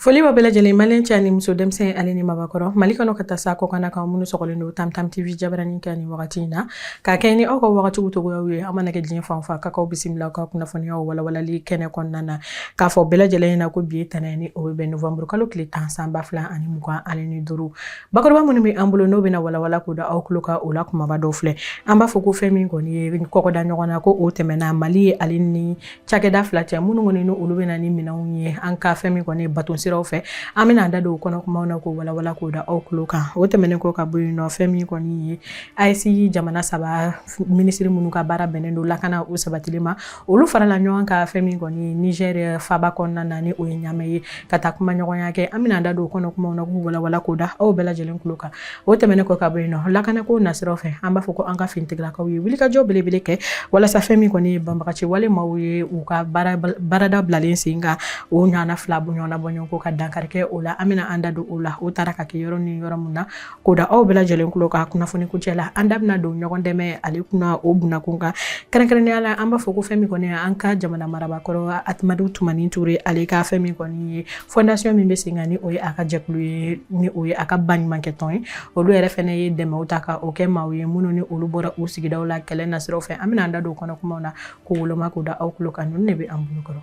foli b'aw bɛɛ lajɛlen maliyɛn cɛ ani muso denmisɛn ale ni mabakɔrɔ mali kɔnɔ ka taa se kɔkanna kan minnu sɔgɔlen don tamtam tv jabaranin kɛnɛ wagati in na k'a kɛ ni aw ka wagatiw togoyaw ye aw mana kɛ diɲɛ fan o fan kan k'aw bisimila ka kunnafoniyaw walawalali kɛnɛ kɔnɔna na k'a fɔ bɛɛ lajɛlen ɲɛna ko bi ye ntɛnɛn ye ni o bɛ bɛn novamburu kalo tile tan san ba fila ani mugan ale ni duuru Bakuruba minnu bɛ an bolo n'o bɛna walawala k'o da aw tulo kan o la kumaba dɔw filɛ an b'a fɔ ko fɛn min kɔni ye kɔkɔda ɲɔgɔn na ko o tɛmɛna mali ye ale ni cakɛda fila cɛ minnu kɔni ni olu bɛ na ni minɛnw ye an ka fɛn min kɔni baton siraw fɛ an bɛna an da don kɔnɔ kumaw na k'o walawala k'o da aw tulo kan o tɛmɛnen kɔ ka bɔ yen nɔ fɛn min kɔni ye AES jamana saba minisiriri minnu ka baara bɛnnen don lakana o sabatili ma olu farala ɲɔgɔn kan fɛn min kɔni ye Niger faba kɔnɔna na ni o ye ɲamɛ ye ka taa kuma ɲɔgɔnya kɛ an bɛna da don o kɔnɔ kumaw na k'u walawala k'o da aw bɛɛ lajɛlen tulo kan o tɛmɛnen kɔ ka bɔ yen nɔ lakanako nasiraw fɛ an b'a fɔ ko an ka finitigilakaw ye wulikajɔ belebele kɛ walasa fɛn min kɔni ye banbagaci wale maaw ye u ka baarada bilalen sen kan o ɲɔgɔnna fila bɔ ɲɔgɔnna bɔ ɲɔgɔn kɔ ka dankari kɛ o la an bɛna an da don o la o taara ka kɛ yɔrɔ ni yɔrɔ min na K'o da aw bɛɛ lajɛlen tulo kan kunnafoni kuncɛ la an da bɛna don ɲɔgɔn dɛmɛ ale kunna o bunakun kan kɛrɛnkɛrɛnnenya la an b'a fɔ ko fɛn min kɔni an ka jamana marabaa kɔrɔ Amadu Tumani Ture ale ka fɛn min kɔni ye fondation min bɛ sen kan ni o ye a ka jɛkulu ye ni o ye a ka baɲumankɛ tɔn ye olu yɛrɛ fana ye dɛmɛw ta ka o kɛ maaw ye minnu ni olu bɔra u sigidaw la kɛlɛ nasiraw fɛ an bɛna an da don kɔnɔ kumaw na k'o woloma k'o da aw tulo kan ninnu de bɛ an bolo kɔrɔ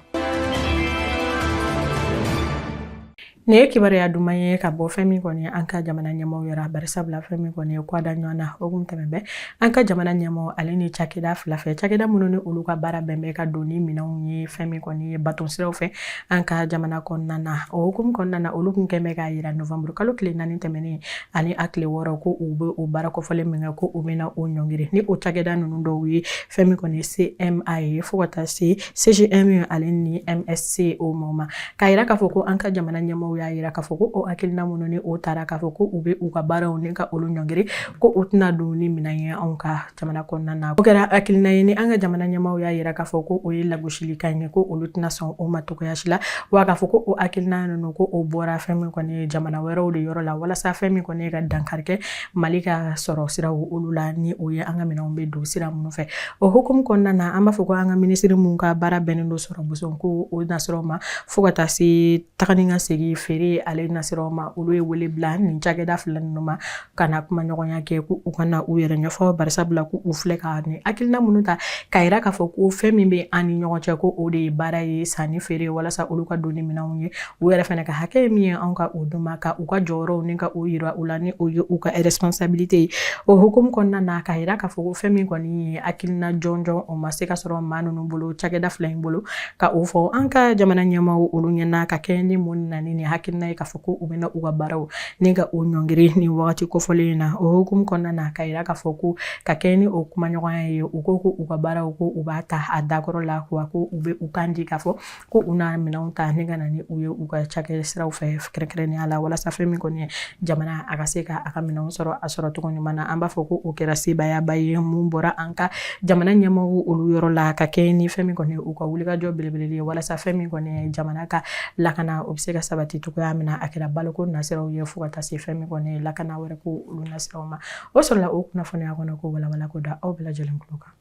Nin ye kibaruya duman ye ka bɔ fɛn min kɔni ye an ka jamana ɲɛmaaw yɔrɔ bari sabula fɛn min kɔni ye kɔda ɲɔgɔn na o kun tɛmɛn bɛ an ka jamana ɲɛmaaw ale ni cakɛda fila cɛ cakɛda minnu ni olu ka baara bɛn bɛ ka don ni minɛnw ye fɛn min kɔni ye baton siraw fɛ an ka jamana kɔnɔna na o hukumu kɔnɔna na olu tun kɛn bɛ k'a yira novanburu kalo tile naani tɛmɛnen ani a tile wɔɔrɔ ko u bɛ o baara kɔfɔlen min kɛ ko u bɛna o ɲɔngiri ni o cakɛda ninnu dɔw ye fɛn min kɔni ye CMA ye fo ka taa se CGM ale ni MSC o ma K'a jira k'a fɔ ko an ka jamana ɲɛmaaw y'a jira k'a fɔ ko o hakilina minnu ni o taara k'a fɔ ko u bɛ u ka baaraw ni ka olu ɲɔngiri ko u tɛna don ni minɛn ye anw ka jamana kɔnɔna na o kɛra hakilina ye ni an ka jamana ɲɛmaaw y'a jira k'a fɔ ko o ye lagosilikan ye ko olu tɛna sɔn o ma cogoya si la wa k'a fɔ ko o hakilina ninnu ko o bɔra fɛn min kɔni ye jamana wɛrɛw de yɔrɔ la walasa fɛn min kɔni ye ka dankari kɛ mali ka sɔrɔ siraw olu la ni o ye an ka minɛnw bɛ don sira minnu fɛ o hukumu kɔnɔna na an b'a fɔ ko an ka minisiri minnu ka baara bɛnnen don sɔrɔmuso ko o nasira ma fo ka taa se taga ni ka segin feere ale nasira ma olu ye wele bila nin cakɛda fila ninnu ma ka na kuma ɲɔgɔnya kɛ ko u ka na u yɛrɛ ɲɛfɔ bari sabula ko u filɛ ka nin hakilina minnu ta k'a yira k'a fɔ ko fɛn min bɛ an ni ɲɔgɔn cɛ ko o de ye baara ye sanni feere walasa olu ka don ni minɛnw ye u yɛrɛ fana ka hakɛ min ye anw ka o d'u ma ka u ka jɔyɔrɔw ni ka o yira u la ni o ye u ka responsabilité ye o hukumu kɔnɔna na k'a yira k'a fɔ ko fɛn min kɔni ye hakilina jɔnjɔn o ma se ka sɔrɔ maa ninnu bolo cakɛda fila in bolo ka o fɔ an ka jamana ɲɛmaaw olu ɲɛna ka kɛɲɛ ni mun na ni nin hakilina ye k'a fɔ ko u bɛna u ka baaraw ni ka o ɲɔngiri nin wagati kofɔlen in na o hukumu kɔnɔna na k'a yira k'a fɔ ko ka kɛɲɛ ni o kumaɲɔgɔnya ye u ko ko u ka baaraw ko u b'a ta a dakɔrɔ la wa ko u bɛ u kan di k'a fɔ ko u na minɛnw ta ni ka na ni u ye u ka cakɛ siraw fɛ kɛrɛnkɛrɛnnenya la walasa fɛn min kɔni ye jamana a ka se ka a ka minɛnw sɔrɔ a sɔrɔ cogo ɲuman na an b'a fɔ ko o kɛra sebayaba ye min bɔra an ka jamana ɲɛmɔgɔ olu yɔrɔ la ka kɛɲɛ ni fɛn min kɔni u ka wulikajɔ belebele ye walasa fɛn min kɔni ye jamana ka lakana o bɛ se ka sabati cogoya min na a kɛra baloko nasiraw ye fo ka taa se fɛn min kɔni ye lakana wɛrɛ ko olu nasiraw ma o sɔrɔla o kunnafoniya kɔnɔko walawala ko da aw bɛɛ lajɛlen tulo kan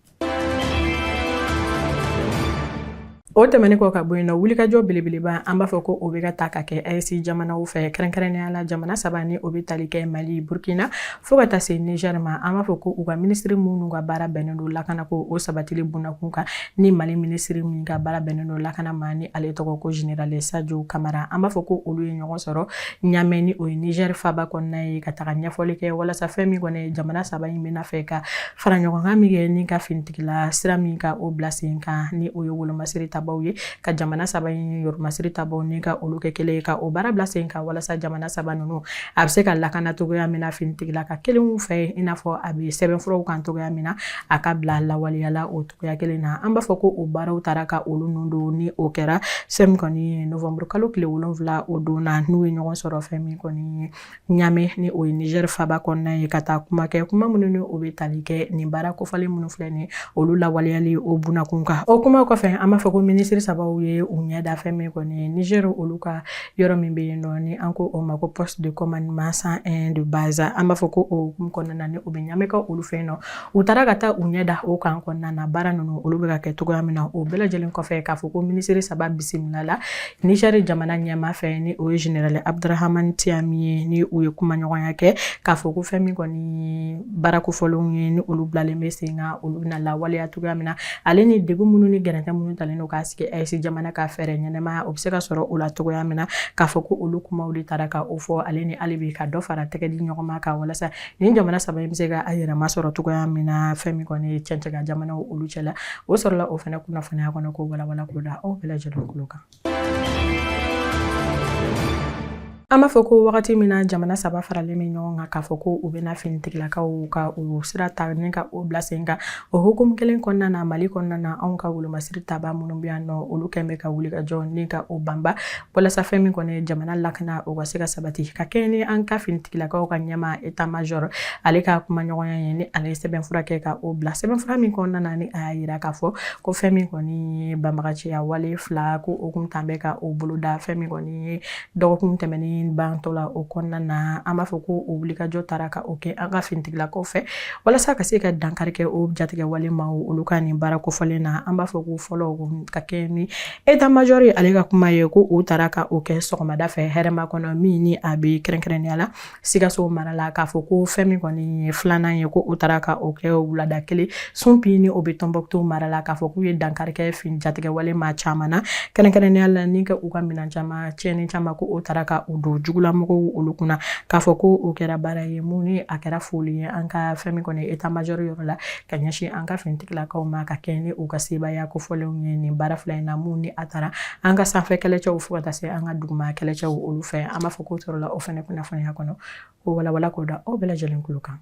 o tɛmɛnen kɔ ka bɔ yen nɔ wulikajɔ belebeleba an b'a fɔ ko o bɛ ka ta ka kɛ aes jamanaw fɛ kɛrɛnkɛrɛnnenya la jamana saba ni o bɛ tali kɛ mali burukina fo ka taa se nizɛri ma an b'a fɔ ko u ka minisiri minnu ka baara bɛnnen don lakana ko o sabatili bunakun kan ni mali minisiri min ka baara bɛnnen don lakana ma ni ale tɔgɔ ko zenerali sajo kamara an b'a fɔ ko olu ye ɲɔgɔn sɔrɔ ɲamɛ ni o ye nizɛrifaba kɔnɔna ye ka taga ɲɛfɔli kɛ walasa fɛn min kɔni jamana saba in bɛna fanga fara ɲɔgɔn kan min kɛ ni ka finitigila sira min ka o bila sen kan ni o ye wolomasiri tabaw ye ka jamana saba in wolomasiri tabaw ni ka olu kɛ kelen ye ka o baara bila sen kan walasa jamana saba ninnu a bɛ se ka lakana cogoya min na finitigila ka kelenw fɛ i n'a fɔ a bɛ sɛbɛnfuraw kan cogoya min na a ka bila lawaleya la o cogoya kelen na an b'a fɔ ko o baaraw taara ka olu nun don ni o kɛra fɛn min kɔni ye nowanburukalo tile wolonwula o don na n'u ye ɲɔgɔn sɔrɔ fɛn min kɔni ye ɲamɛ ni o ye nizɛri faba kɔnɔna ye ka taa kuma kɛ kuma minnu ni o bɛ tali kɛ nin baara kofɔlen minnu filɛ nin olu lawaleyali o bunakun kan o kuma kɔfɛ an b'a fɔ ko minisiri sabaw ye u ɲɛ da fɛn min kɔni ye nizɛri olu ka yɔrɔ min bɛ yen nɔ ni an ko o ma ko poste de commandement cent un de base an b'a fɔ ko o hukumu kɔnɔna na ni o bɛ ɲamɛkaw olu fɛ yen nɔ u taara ka taa u ɲɛ da o kan kɔnɔna na baara ninnu olu bɛ ka kɛ cogoya min na o bɛɛ lajɛlen kɔfɛ k'a fɔ ko minisiri saba bisimilala nizɛri jamana ɲɛmaa fɛ ni o ye zenerali abudurahamani tiyani ye ni u ye kumaɲɔgɔnya kɛ k'a fɔ ko fɛn min kɔni ye baara kofɔlenw ye ni olu bilalen bɛ sen kan olu bɛna lawaleya cogoya min na ale ni degun minnu ni gɛrɛntɛ minnu talen don k'a sigi aes jamana kan fɛɛrɛ ɲɛnamaya o bɛ se ka sɔrɔ o la cogoya min na k'a fɔ ko olu kumaw de taara ka o fɔ ale ni ale bɛ ka dɔ fara tɛgɛ di ɲɔgɔn ma kan walasa nin jamana saba in bɛ se ka a yɛrɛma sɔrɔ cogoya min na fɛn min kɔni ye cɛncɛn kan jamanaw olu cɛla o sɔrɔla o fana kunnafoniya kɔnɔko walawala ko da aw bɛɛ lajɛlen tulo kan an b'a fɔ ko wagati min na jamana saba faralen bɛ ɲɔgɔn kan k'a fɔ ko u bɛna finitigilakaw ka u sira ta ni ka o bila sen kan o hukumu kelen kɔnɔna na mali kɔnɔna na anw ka wolomasiri tabaa minnu bɛ yan nɔ olu kɔni bɛ ka wuli ka jɔ ni ka o banba walasa fɛn min kɔni ye jamana lakana o ka se ka sabati ka kɛɲɛ ni an ka finitigilakaw ka ɲɛmaa état major ale ka kumaɲɔgɔnya ye ni ale ye sɛbɛnfura kɛ ka o bila sɛbɛnfura min kɔnɔna na ni a y'a yira k'a fɔ ko fɛn min kɔni ye banbagaciya wale fila ko o kun tan bɛ ka o boloda fɛn min kɔni ye dɔgɔkun tɛmɛnen bantɔ la o kɔnɔna na an b'a fɔ ko o wulikajɔ taara ka o kɛ an ka finitigilakaw fɛ walasa ka se ka dankari kɛ o jatigɛwale maa olu ka nin baara kofɔlen na an b'a fɔ ko fɔlɔ ka kɛ ni état major ye ale ka kuma ye ko u taara ka o kɛ sɔgɔmada fɛ hɛrɛmakɔnɔ min ni a bɛ kɛrɛnkɛrɛnya la sikaso mara la k'a fɔ ko fɛn min kɔni ye filanan ye ko u taara ka o kɛ wulada kelen sunpi ni o bɛ tɔnbuktu mara la k'a fɔ k'u ye dankari kɛ fin jatigɛwale maa caman na kɛrɛnkɛrɛnya la ni ka u ka minɛn caman cɛn caman ko o taara ka u don jugulamɔgɔ olu kunna k'a fɔ ko o kɛra baara ye mun ni a kɛra foli ye an ka fɛn min kɔni état major yɔrɔ la ka ɲɛsin an ka finitigilakaw ma ka kɛ ni u ka sebaaya kofɔlenw ye nin baara fila in na mun ni a taara an ka sanfɛ kɛlɛcɛw fo ka taa se an ka duguma kɛlɛcɛw olu fɛ an b'a fɔ k'o sɔrɔla o fana kunnafoniya kɔnɔ o walawala k'o da aw bɛɛ lajɛlen kulo kan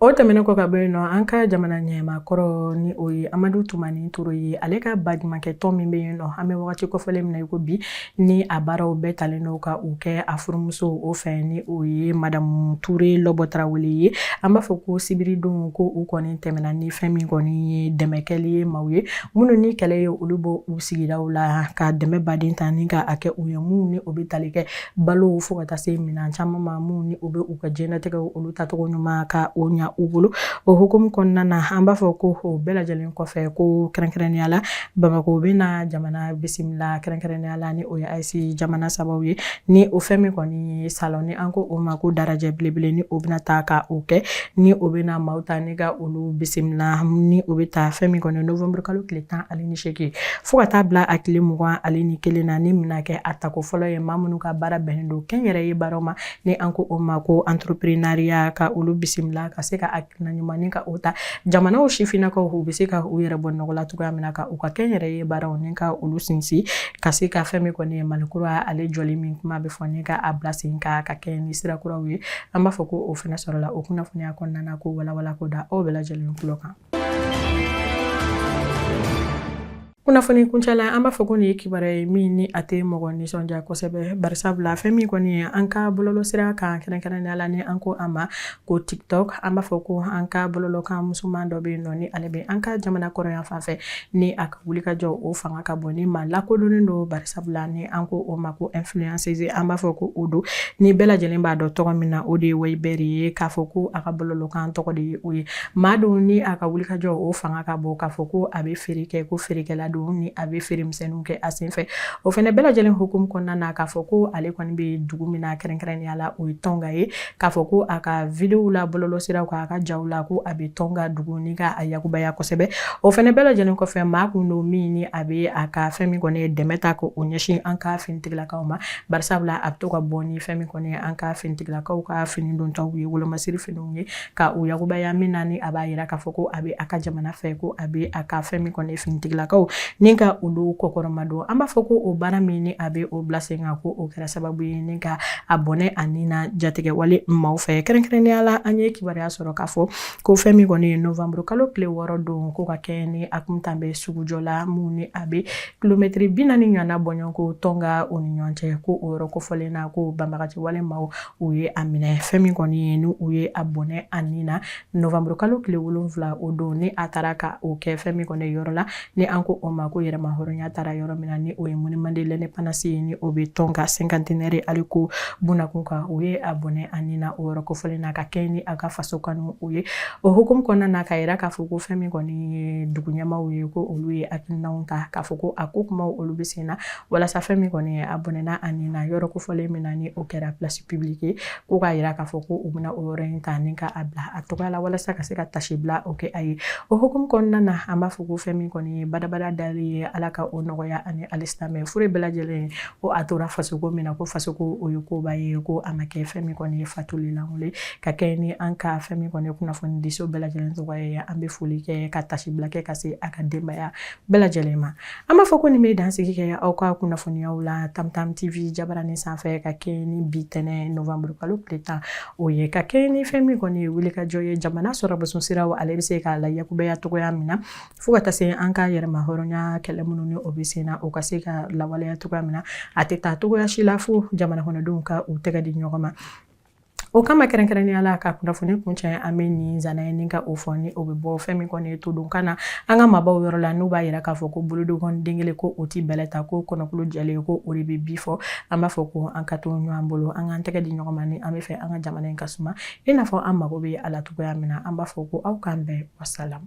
o tɛmɛnen kɔ ka bɔ yen nɔ an ka jamana ɲɛmaa kɔrɔ ni o ye amadu tumani ture ye ale ka baɲumankɛ tɔn min bɛ yen nɔ an bɛ wagati kofɔlen min na i ko bi Ni a baaraw bɛɛ talen don ka u kɛ a furumuso o fɛ ni o ye madamu ture lɔbɔ tarawele ye an b'a fɔ ko sibiridon ko u kɔni tɛmɛna ni fɛn min kɔni ye dɛmɛkɛli ye maaw ye minnu ni kɛlɛ ye olu bɔ u sigidaw la ka dɛmɛ baden ta ni ka a kɛ u ye minnu ni o bɛ tali kɛ balo fo ka taa se minɛn caman ma minnu ni o bɛ u ka jɛnatigɛw olu tacogo ɲuman ka o ɲa u bolo o hukumu kɔnɔna na an b'a fɔ ko o bɛɛ lajɛlen kɔfɛ ko kɛrɛnkɛrɛnnenya la Bamakɔ bɛ na jamana bisimila kɛrɛnkɛrɛnya la ni o ye AES jamana sababu ye ni o fɛn min kɔni ye salon ni an ko o ma ko dalajɛ belebele ni o bɛna taa ka o kɛ ni o bɛ na maaw ta ni ka olu bisimila ni o bɛ taa fɛn min kɔni nowanburukalo tile tan ale ni seegin fo ka taa bila a tile mugan ale ni kelen na ni min na kɛ a tako fɔlɔ ye maa minnu ka baara bɛnnen don kɛnyɛrɛye baara ma ni an ko o ma ko entrepreneuriat ka olu bisimila ka se ka na ɲuman ni ka o ta jamanaw sifinnakaw u bɛ se ka u yɛrɛ bɔ nɔgɔ la cogoya min na ka u ka kɛnyɛrɛye baaraw ni ka olu sinsin ka se ka fɛn min kɔni ye mali kura ale jɔli min kuma bɛ fɔ ni ka a bila sen kan ka kɛ ni sira kuraw ye an b'a fɔ ko o fana sɔrɔla o kunnafoniya kɔnɔna na k'o walawala k'o da aw bɛɛ lajɛlen kulo kan kunnafoni kuncɛla an b'a fɔ ko nin ye kibaruya ye min ni a tɛ mɔgɔ nisɔndiya kosɛbɛ barisabula fɛn min kɔni ye an ka bɔlɔlɔsira kan kɛrɛnkɛrɛnnenya la ni an ko a ma ko tiktok an b'a fɔ ko an ka bɔlɔlɔkan musoman dɔ bɛ yen nɔ ni ale bɛ an ka jamana kɔrɔn yanfan fɛ ni a ka wulikajɔ o fanga ka bon ni maa lakodɔnnen don barisabula ni an ko o ma ko influenceuse an b'a fɔ ko o don ni bɛɛ lajɛlen b'a dɔn tɔgɔ min na o de ye wayibɛri ye k'a fɔ ko a ka bɔlɔlɔkan tɔgɔ de ye o ye Maa don ni a ka wulikajɔ o fanga ka bon k'a fɔ ko a bɛ feere kɛ ko feerekɛla don ni a bɛ feeremisɛnninw kɛ a senfɛ o fana bɛɛ lajɛlen hukumu kɔnɔna na k'a fɔ ko ale kɔni bɛ dugu min na kɛrɛnkɛrɛnnenya la o ye Tɔnka ye k'a fɔ ko a ka videow la bɔlɔlɔsiraw kan a ka jaw la ko a bɛ Tɔnka dugu ni ka a yakubaya kosɛbɛ o fana bɛɛ lajɛlen kɔfɛ maa kun don min ni a bɛ a ka fɛn min kɔni ye dɛmɛ ta ko o ɲɛsin an ka finitigilakaw ma barisabula a bɛ to ka bɔ ni fɛn min kɔni ye an ka finitigilakaw ka fini dontaw ye wolomasiri finiw ye ka u yakubaya min na ni a b'a yira k'a fɔ ko a bɛ a ka jamana fɛ ko a bɛ a ka fɛn min kɔni finitigilakaw ni ka olu kɔkɔrɔmadon an b'a fɔ ko o baara min ni a bɛ o bila sen kan ko o kɛra sababu ye ni ka a bɔnɛ a ni na jatigɛ wale maaw fɛ kɛrɛnkɛrɛnnenya la an ye kibaruya sɔrɔ k'a fɔ ko fɛn min kɔni ye novembre kalo tile wɔɔrɔ don ko ka kɛ ni a kun taalen bɛ sugujɔ la min ni a bɛ kilomɛtiri bi naani ɲɔgɔnna bɔɲɔgɔnko Tɔnka o ni ɲɔgɔn cɛ ko o yɔrɔ kofɔlen na ko banbagaci wale maaw u ye a minɛ fɛn min kɔni ye ni u ye a bɔnɛ a ni na novembre kalo tile wolonwula o don ni a taara ka o kɛ fɛn min kɔni yɔrɔ la ni an ko o ma ko yɛrɛmahɔrɔnya taara yɔrɔ min na ni o ye Monument de l'Indépendance ye ni o bɛ Tɔnka cinquantenaire ale ko bunakun kan u ye a bɔnɛ a ni na o yɔrɔ kofɔlen na ka kɛ ni a ka faso kanu o ye o hukumu kɔnɔna na k'a yira k'a fɔ ko fɛn min kɔni ye dugu ɲɛmaaw ye ko olu ye hakilinaw ta k'a fɔ ko a ko kumaw olu bɛ sen na walasa fɛn min kɔni ye a bɔnɛna a ni na yɔrɔ kofɔlen min na ni o kɛra place publique ye ko k'a yira k'a fɔ ko u bɛna o yɔrɔ in ta ni ka a bila a tɔgɔ la walasa ka se ka taasibila o kɛ a ye o hukumu kɔnɔna na an b'a fɔ ko fɛn min kɔni ye badabada dali ye ala ka o nɔgɔya ani alisilamɛ fure bɛɛ lajɛlen ko a tora fasoko min na ko fasoko o ye koba ye ko a ma kɛ fɛn min kɔni ye fatuli lankolon ye ka kɛ ni an ka fɛn min kɔni ye kunnafonidiso bɛɛ lajɛlen tɔgɔ ye an bɛ foli kɛ ka taasibila kɛ ka se a ka denbaya bɛɛ lajɛlen ma an b'a fɔ ko nin bɛ dansigi kɛ aw ka kunnafoniyaw la tamtam tv jabaranin sanfɛ ka kɛɲɛ ni bi ntɛnɛn novembre kalo tile tan o ye ka kɛɲɛ ni fɛn min kɔni ye wulikajɔ ye jamana sɔrɔ boson siraw ale bɛ se ka layakubaya cogoya min na fo ka taa se an ka yɛrɛmahɔrɔnya kɛlɛ minnu ni o bɛ sen na o ka se ka lawaleya cogoya min na a tɛ taa cogoya si la fo jamana kɔnɔdenw ka u tɛgɛ di ɲɔgɔn ma O kama kɛrɛnkɛrɛnnenya la ka kunnafoni kuncɛ an bɛ nin nsana ye ni ka o fɔ ni o bɛ bɔ fɛn min kɔni ye to don kan na an ka maabaw yɔrɔ la n'u b'a yira k'a fɔ ko bolonkɔni den kelen ko o tɛ bɛlɛ ta ko kɔnɔkulu jɛlen ko o de bɛ bii fɔ an b'a fɔ ko an ka to ɲɔgɔn bolo an k'an tɛgɛ di ɲɔgɔn ma ni an b'a fɛ an ka jamana in ka suma i n'a fɔ an mago bɛ a la cogoya min na an b'a fɔ ko aw k'an bɛn wasalam